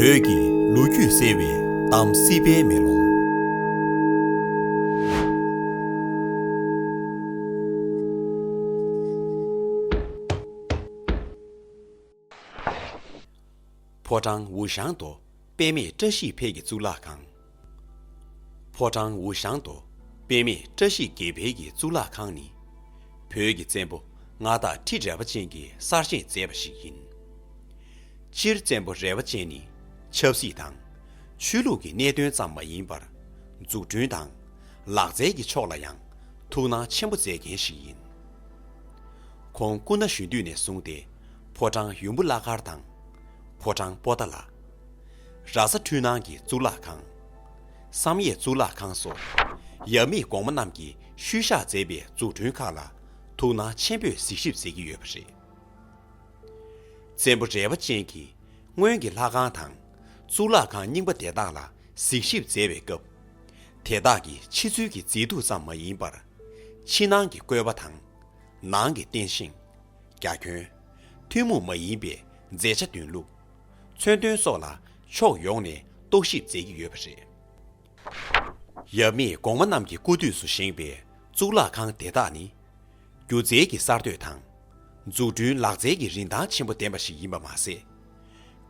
བོད་ཀྱི་ལོ་རྒྱུས་གསལ་བའི་གཏམ་སྲིད་པའི་མེ་ལོང། ཕོ་བྲང་འུ་ཞང་དོ། དཔེ་མེད་བཀྲ་ཤིས་འཕེལ་གྱི་གཙུག་ལག་ཁང། ཕོ་བྲང་འུ་ཤང་དུ་དཔེ་མེད་བཀྲ་ཤིས་དགེ་འཕེལ་གྱི་གཙུག་ལག་ཁང་ནི། བོད་ཀྱི་བཙན་པོ་མངའ་བདག་ཁྲི་རལ་པ་ཅན་གྱིས་གསར་བཞེངས་མཛད་པ་ཞིག་ཡིན། སྤྱིར་བཙན་པོ་རལ་པ་ཅན་ནི་ཆབ་སྲིད་དང། ཆོས་ལུགས་ཀྱི་གནད་དོན་ཙམ་མ་ཡིན་པར། འཛུགས་སྐྲུན་དང། ལག་རྩལ་གྱི་ཕྱོགས་ལ་ཡང་ཐུགས་སྣང་ཆེན་པོ་མཛད་མཁན་ཞིག་ཡིན། ཁོང་སྐུ་ན་གཞོན་དུས་ནས་བཟུང་སྟེ་ཕོ་བྲང་ཡུམ་བུ་བླ་མཁར་དང། ཕོ་བྲང་པོ་ཏཱ་ལ། ར་ས་འཕྲུལ་སྣང་གི་གཙུག་ལག་ཁང། བསམ་ཡས་གཙུག་ལག་ཁང་སོགས་ཡབ་མེས་གོང་མ་རྣམས་ཀྱིས་ཤུལ་བཞག་མཛད་པའི་འཛུགས་སྐྲུན་ཁག་ལ་ཐུགས་སྣང་ཆེན་པོས་གཟིགས་ཞིབ་མཛད་ཀྱི་ཡོད་པ་རེད། བཙན་པོ་རལ་བ་ཅན་གྱིས་སྔོན་གྱི་ལྷ་ཁང་དང་གཙུག་ལག་ཁང་རྙིང་པ་དེ་དག་ལ་གཟིགས་ཞིབ་མཛད་པའི་སྐབས། དེ་དག་གི་ཕྱི་ཚུལ་གྱི་མཛེས་སྡུག་ཙམ་མ་ཡིན་པར། ཕྱི་ནང་གི་བཀོད་པ་དང། ནང་གི་རྟེན་བཞེངས། རྒྱ་ཁྱོན། ཐུན་མོང་མ་ཡིན་པའི་མཛེས་ཆ་འདོན་ལུགས། མཚོན་དོན་སོགས་ལ་ཕྱོགས་ཡོངས་ནས་རྟོག་ཞིབ་མཛད་ཀྱི་ཡོད་པ་རེད། ཡབ་མེས་གོང་མ་རྣམས་ཀྱི་སྐུ་དུས་སུ་བཞེངས་པའི་གཙུག་ལག་ཁང་དེ་དག་ནི། སྒྱུ་རྩལ་གྱི་གསར་གཏོད་དང། འཛུགས་སྐྲུན་ལག་རྩལ་གྱི་རིན་ཐང་ཆེན་པོ་ལྡན་པ་ཞིག་ཡིན་པ་མ་ཟད།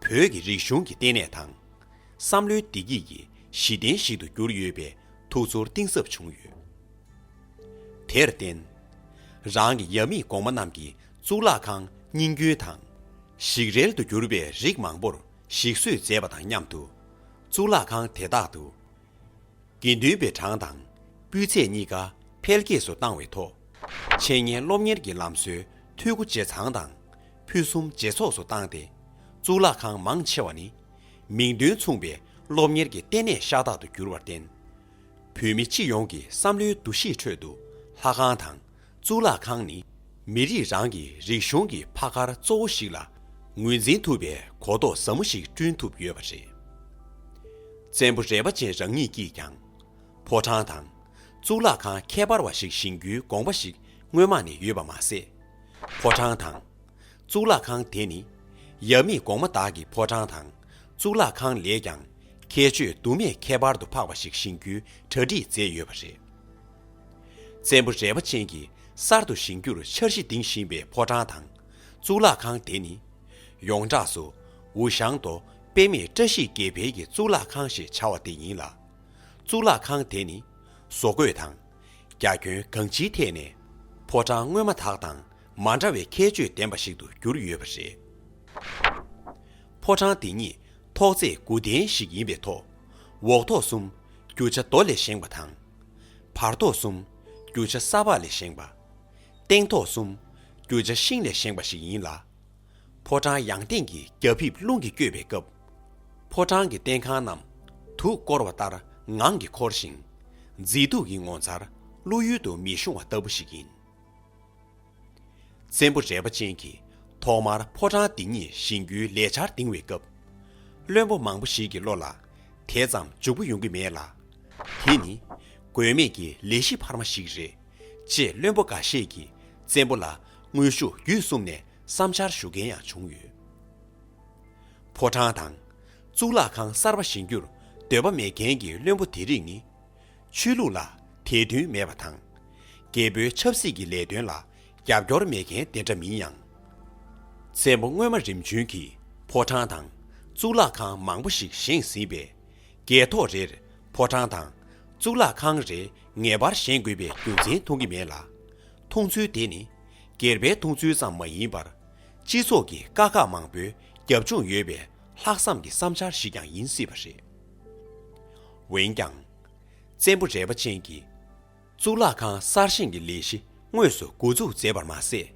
བོད་ཀྱི་རིག་གཞུང་གི་ལྟེ་གནས་དང། བསམ་བློའི་བདེ་སྐྱིད་ཀྱི་གཞི་རྟེན་ཞིག་ཏུ་གྱུར་ཡོད་པའི་ཐུགས་ཚོར་གཏིང་ཟབ་བྱུང་ཡོད། དེར་བརྟེན། རང་གི་ཡབ་མེས་གོང་མ་རྣམས་ཀྱི་གཙུག་ལག་ཁང་རྙིང་རྒྱུན་དང། ཞིག་རལ་དུ་གྱུར་པའི་རིགས་མང་པོར་ཞིག་གསོས་མཛད་པ་དང་མཉམ་དུ། གཙུག་ལག་ཁང་དེ་དག་ཏུ། དགེ་འདུན་པའི་གྲངས་དང་སྤུས་ཚད་གཉིས་ཀ་འཕེལ་རྒྱས་སུ་བཏང་བའི་ཐོག། འཆད་ཉན་སློབ་གཉེར་གྱི་ལམ་སྲོལ་འཐུས་སྒོ་ཇེ་ཚང་དང་ཕུན་སུམ་ཇེ་ཚོགས་སུ་བཏང་སྟེ། གཙུག་ལག་ཁང་མང་ཆེ་བ་ནི། མིང་དོན་མཚུངས་པའི་སློབ་གཉེར་གྱི་ལྟེ་གནས་ཤ་སྟག་ཏུ་གྱུར་བར་བརྟེན། བོད་མི་སྤྱི་ཡོངས་ཀྱི་བསམ་བློའི་འདུ་ཤེས་ཁྲོད་དུ་ལྷ་ཁང་དང། གཙུག་ལག་ཁང་ནི་མི་རིགས་རང་གི་རིག་གཞུང་གི་ཕ་མཁར་གཙོ་བོ་ཞིག་ལ་ངོས་འཛིན་ཐུབ་པའི་གོ་རྟོགས་ཟབ་མོ་ཞིག་བསྐྲུན་ཐུབ་ཡོད་པ་རེད། བཙན་པོ་རས་པ་ཅན་རང་ཉིད་ཀྱིས་ཀྱང་ཕོ་བྲང་དང་གཙུག་ལག་ཁང་ཁྱད་པར་བ་ཞིག་བཞེངས་རྒྱུའི་དགོངས་པ་ཞིག་སྔོན་མ་ནས་ཡོད་པ་མ་ཟད། ཕོ་བྲང་དང་གཙུག་ལག་ཁང་དེ་ནི་ཡབ་མེས་གོང་མ་དག་གི་ཕོ་བྲང་དང་གཙུག་ལག་ཁང་ལས་ཀྱང་ཁྱད་ཆོས་དུ་མས་ཁྱད་པར་དུ་འཕགས་པ་ཞིག་བཞེངས་རྒྱུའི་གྲ་སྒྲིག་མཛད་ཡོད་པ་རེད། བཙན་པོ་རལ་པ་ཅན་གྱིས་གསར་དུ་བཞེངས་རྒྱུར་འཆར་གཞི་འདིང་བཞིན་པའི་ཕོ་བྲང་དང་གཙུག་ལག་ཁང་དེ་ནི། ཡོངས་གྲགས་སུ་ཝུ་ཞང་རྡོ་དཔེ་མེད་བཀྲ་ཤིས་དགེ་འཕེལ་གྱི་གཙུག་ལག་ཁང་ཞེས་བྱ་བ་དེ་ཡིན་ལ། གཙུག་ལག་ཁང་དེ་ནི་བཟོ་བཀོད་དང། རྒྱ་ཁྱོན་གང་ཅིའི་ཐད་ནས་ཕོ་བྲང་སྔོན་མ་དག་དང་མ་འདྲ་བའི་ཁྱད་ཆོས་ལྡན་པ་ཞིག་ཏུ་གྱུར་ཡོད་པ་རེད། ཕོ་བྲང་དེ་ཉིད་ཐོག་བརྩེགས་དགུ་ལྡན་ཞིག་ཡིན་པའི་ཐོག་འོག་ཐོག་གསུམ་རྒྱུ་ཆ་རྡོ་ལས་བཞེངས་པ་དང། བར་ཐོག་གསུམ། རྒྱུ་ཆ་གསར་པ་ལས་བཞེངས་པ། སྟེང་ཐོག་གསུམ། རྒྱུ་ཆ་ཤིང་ལས་བཞེངས་པ་ཞིག་ཡིན་ལ། ཕོ་བྲང་ཡང་སྟེང་གི་རྒྱ་ཕིབས་རླུང་གིས་བསྐྱོད་པའི་སྐབས། ཕོ་བྲང་གི་སྟེང་ཁང་རྣམས་དུག་བསྐོར་བ་ལྟར་ངང་གིས་འཁོར་ཞིང། མཛེས་སྡུག་གི་ངོ་མཚར་ཀླུ་ཡུལ་དུ་མི་ཤོང་བ་ལྟ་བུ་ཞིག་ཡིན། བཙན་པོ་རལ་པ་ཅན་གྱིས་ཐོག་མར་ཕོ་བྲང་འདི་ཉིད་བཞེངས་རྒྱུའི་ལས་འཆར་འདིང་བའི་སྐབས། བློན་པོ་མང་པོ་ཞིག་གི་བློ་ལ་དེ་ཙམ་འཇུག་པོ་ཡོང་གི་མེད་ལ། དེ་ནི་དགོས་མེད་ཀྱི་ལས་གཞི་འཕར་མ་ཞིག་རེད་ཅེས་བློན་པོ་འགའ་ཤས་ཀྱིས་བཙན་པོ་ལ་དངོས་ཤུགས་བརྒྱུད་གསུམ་ནས་བསམ་འཆར་ཞུ་མཁན་ཡང་བྱུང་ཡོད། ཕོ་བྲང་དང། གཙུག་ལག་ཁང་གསར་པ་བཞེངས་རྒྱུར་འདོད་པ་མེད་མཁན་གྱི་བློན་པོ་དེ་རིགས་ནི། ཆོས་ལུགས་ལ་དད་འདུན་མེད་པ་དང། རྒྱལ་པོའི་ཆབ་སྲིད་ཀྱི་ལས་དོན་ལ་རྒྱབ་སྐྱོར་མེད་མཁན་དེ་འདྲ་མིན་ཡང། མཚན་མོ་སྔོན་མ་རིམ་བྱོན་གྱིས་ཕོ་བྲང་དང་གཙུག་ལག་ཁང་མང་པོ་ཞིག་བཞེངས་ཟིན་པས། རྒྱལ་ཐོག་རེར་ཕོ་བྲང་དང་གཙུག་ལག་ཁང་རེ་ངེས་པར་བཞེངས་དགོས་པའི་རྒྱུ་མཚན་མཐོང་གི་མེད་ལ། མཐོང་ཚུལ་དེ་ནི་སྒེར་པའི་མཐོང་ཚུལ་ཙམ་མ་ཡིན་པར། སྤྱི་ཚོགས་ཀྱི་དཀའ་ཁག་མང་པོའི་རྒྱབ་ལྗོངས་ཡོད་པའི་ལྷག་བསམ་གྱི་བསམ་འཆར་ཞིག་ཀྱང་ཡིན་སྲིད་པ་རེད། འོན་ཀྱང། བཙན་པོ་རལ་པ་ཅན་གྱིས་གཙུག་ལག་ཁང་གསར་བཞེངས་ཀྱི་ལས་གཞི་དངོས་སུ་མགོ་འཛུགས་མཛད་པར་མ་ཟད།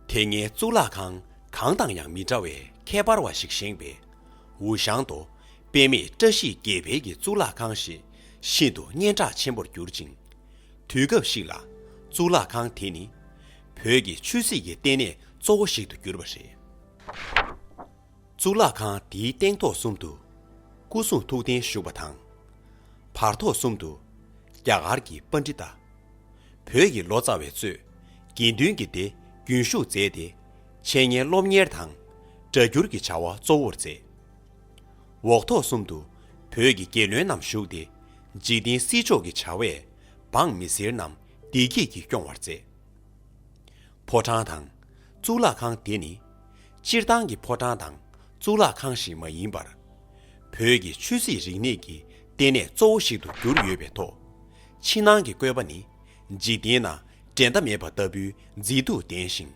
དེ་སྔའི་གཙུག་ལག་ཁང་གང་དང་ཡང་མི་འདྲ་བའི་ཁྱད་པར་བ་ཞིག་བཞེངས་པས། ཝུའུ་ཞང་དོ་དཔེ་མེད་བཀྲ་ཤིས་དགེ་འཕེལ་གྱི་གཙུག་ལག་ཁང་ཞིག་ཤིན་ཏུ་སྙན་གྲགས་ཆེན་པོར་གྱུར་ཅིང། དུས་སྐབས་ཤིག་ལ་གཙུག་ལག་ཁང་དེ་ནི་བོད་ཀྱི་ཆོས་སྲིད་ཀྱི་ལྟེ་གནས་གཙོ་བོ་ཞིག་ཏུ་གྱུར་པ་རེད། གཙུག་ལག་ཁང་འདིའི་སྟེང་ཐོག་གསུམ་དུ་སྐུ་གསུང་ཐུགས་རྟེན་བཞུགས་པ་དང། བར་ཐོག་གསུམ་དུ་རྒྱ་གར་གྱི་པཎ་ཏྲི་ཏ། བོད་ཀྱི་ལོ་ཙཱ་བའི་གཙོས་དགེ་འདུན་གྱི་སྡེ་རྒྱུན་བཞུགས་མཛད་དེ་འཆད་ཉན་སློབ་གཉེར་དང་སྒྲ་སྒྱུར་གྱི་བྱ་བ་གཙོ་བོར་མཛད། འོག་ཐོག་གསུམ་དུ་བོད་ཀྱི་རྒྱལ་བློན་རྣམས་བཞུགས་ཏེ་འཇིག་རྟེན་སྲིད་ཕྱོགས་ཀྱི་བྱ་བས་འབངས་མི་སེར་རྣམས་བདེ་སྐྱིད་ཀྱིས་སྐྱོང་བར་མཛད། ཕོ་བྲང་དང་གཙུག་ལག་ཁང་དེ་ནི་སྤྱིར་བཏང་གི་ཕོ་བྲང་དང་གཙུག་ལག་ཁང་ཞིག་མ་ཡིན་པར། བོད་ཀྱི་ཆོས་སྲིད་རིག་གནས་ཀྱི་ལྟེ་གནས་གཙོ་བོ་ཞིག་ཏུ་གྱུར་ཡོད་པའི་ཐོག་ཕྱི་ནང་གི་བཀོད་པ་ནི་འཇིག་རྟེན་ན་འགྲན་ཟླ་མེད་པ་ལྟ་བུའི་མཛེས་སྡུག་ལྡན་ཞིང།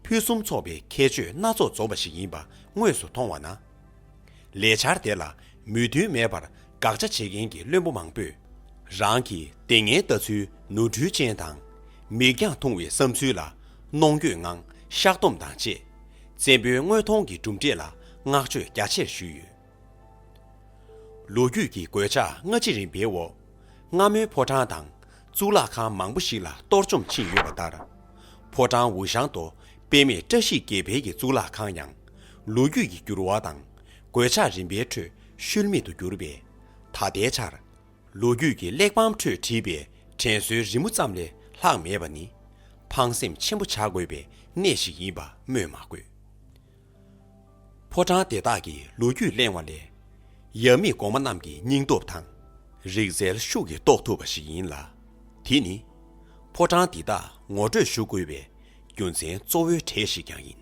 ཕུན་སུམ་ཚོགས་པའི་ཁྱད་ཆོས་སྣ་ཚོགས་འཛོམས་པ་ཞིག་ཡིན་པ་དངོས་སུ་མཐོང་བ་ན། ལས་འཆར་དེ་ལ་མོས་མཐུན་མེད་པར་དགག་བྱ་བྱེད་མཁན་གྱི་བློན་པོ་མང་པོས། རང་གི་ལྟས་ངན་ལྟ་ཚུལ་ནོར་འཁྲུལ་ཅན་དང། མིག་རྒྱང་ཐུང་བའི་བསམ་ཚུལ་ལ་གནོང་འགྱོད་ངང་བཤགས་སྡོམ་དང་བཅས། བཙན་པོའི་དངོས་མཐོང་གི་གྲུབ་འབྲས་ལ་བསྔགས་བརྗོད་རྒྱ་ཆེར་ཞུས་ཡོད། ལོ་རྒྱུས་ཀྱི་གོད་ཆག་སྔ་ཕྱི་རིམ་པའི་འོག་སྔ་མོའི་ཕོ་བྲང་དང་གཙུག་ལག་ཁང་མང་པོ་ཞིག་ལ་གཏོར་བཅོམ་ཕྱིན་ཡོད་པ་ལྟར། ཕོ་བྲང་འུ་ཞང་དོ་དཔེ་མེད་བཀྲ་ཤིས་དགེ་འཕེལ་གྱི་གཙུག་ལག་ཁང་ཡང། ལོ་རྒྱུས་ཀྱི་འགྱུར་བ་དང་གོད་ཆག་རིམ་པའི་ཁྲོད་ཤུལ་མེད་དུ་གྱུར་པས། ད་ལྟའི་ཆར། ལོ་རྒྱུས་ཀྱི་གླེགས་བམ་ཁྲོད་བྲིས་པའི་དྲན་གསོའི་རི་མོ་ཙམ་ལས་ལྷག་མེད་པ་ནི། ཕངས་སེམས་ཆེན་པོ་བྱ་དགོས་པའི་གནས་ཤིག་ཡིན་པ་སྨོས་མ་དགོས། ཕོ་བྲང་དེ་དག་གི་ལོ་རྒྱུས་གླེང་བ་ལས། ཡབ་མེས་གོང་མ་རྣམས་ཀྱི་སྙིང་སྟོབས་དང། རིག་རྩལ་ཤུགས་ཀྱིས་རྟོགས་ཐུབ་པ་ཞིག་ཡིན་ལ། དེ་ནི། ཕོ་བྲང་འདི་དག་ངོ་སྤྲོད་ཞུ་དགོས་པའི་རྒྱུ་མཚན་གཙོ་བོའི་གྲས་ཤིག་ཀྱང་ཡིན།